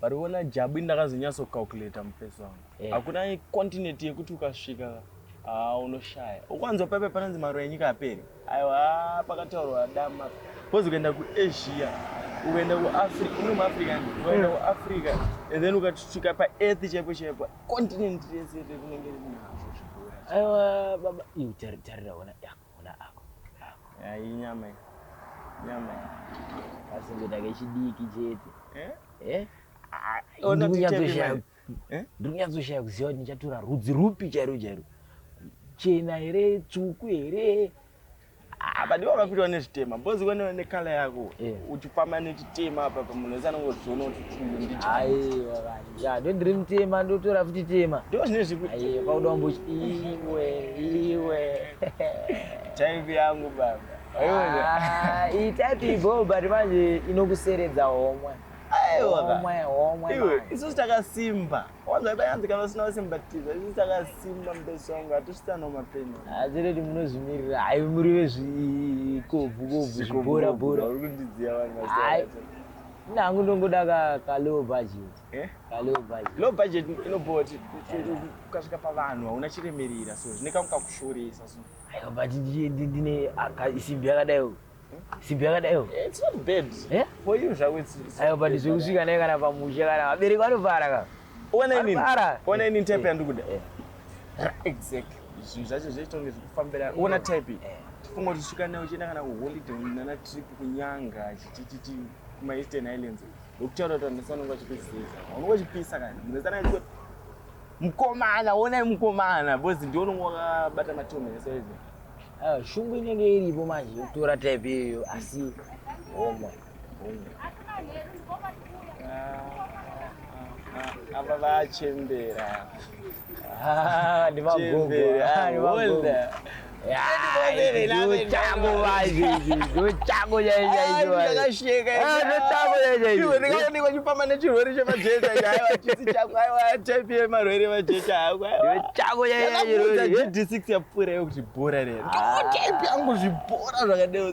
But wona jabu ndakazonyatso calculator muface wangu. Yeah. Hakuna continent yekuti ukasvika ah unoshaya. Ukwanzwa pepe pananzi maro yenyika aperi. Aiwa ah, pakataurwa dama. Kozi kuenda ku Asia, ukaenda ku Africa, uno mu Africa, ukaenda ku Africa and then ukatsvika pa earth chepo chepo. Continent yese kunenge iri nazvo. Aiwa baba, iu tarira wona. Yeah. Ona ako. Ako. Iyi nyama iyi. Nyama iyi. Asi ndoda kechidiki chete. Eh? Eh? Ah, ona tichema. Eh? Ndiri kunyatsoshaya kuziva kuti ndichatora rudzi rupi chairo chairo. Chena here, tsvuku here? Ah, but iwe wakapirwa nezvitema bhozi we nekala yako uchifamba nechitema apa pamunhu wese anongoziona kuti chii ndichaiwa ya ndondiri mutema ndotora futi tema ndo zvine zvikuti pauda umbo iwe iwe type yangu baba ah, iyi type ibo but manje inokuseredza homwe isusu takasimba wanzaibayanzi kana usina usimbatiza isusu takasimba mbeso wangu hatusitano mapeni hatireti munozvimirira hai muri vezvikobvu kobvu zviborabora uri kundidziya vanhu Ini hangu ndongoda ka, ka low budget. Eh? Ka low budget. Low budget inobhowa kuti ukasvika pavanhu hauna chiremerera so zvine kangu kakushoresa so. Aiwa but ndine aka isimbi yakadai uyu. Hmm? Simbi yakadai uyu. Eh, it's not bad. Eh? For you zvako it's. Aiwa but zvekusvika naye kana pamusha kana vabereki vanovara ka. Ona inini. Ona inini type yandiri kuda. Eh. Exactly. Zvinhu zvacho zvaitonge zvikufambira. Ona type. Eh. Tifunga kuti svika nayo uchienda kana kuholiday nana trip kunyanga chichichichi kuma Eastern Islands. Ndokutaura kuti vanhu vanenge vachipisa. Vanenge vachipisa kana. Munhu sana kuti mukomana, onai mukomana. Bozi ndiwo unenge wakabata matombo ese izvo. Ah, shungu inenge iripo manje yokutora type iyoyo asi homa. ava vachembera ndivagogoaakashekaachifamba nechirwere chemajecha chisi chako aiwataipi yemarwere majecha akoakoaaa gd6 yapfuura yokuti bhora rero ndotaipi yangu zvibhora zvakadeo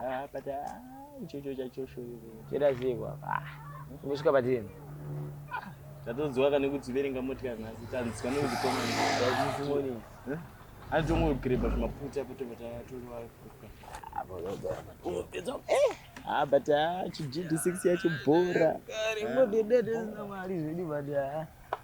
Ah, but ah, ichocho chacho shoriro. Chera ziko apa. Ah, Kusvika patini. Tatodziwa kana kudziverenga motika nhasi tanzwa nekuzikoma. Zvazisi moni. Anotongogreba zvimaputa kuti vatatorewa kuka. Apo yoga. Unopedza. Eh. Ah, but ah, chi GD6 yacho bhora. Rimbo dede dede mali zvedi bada.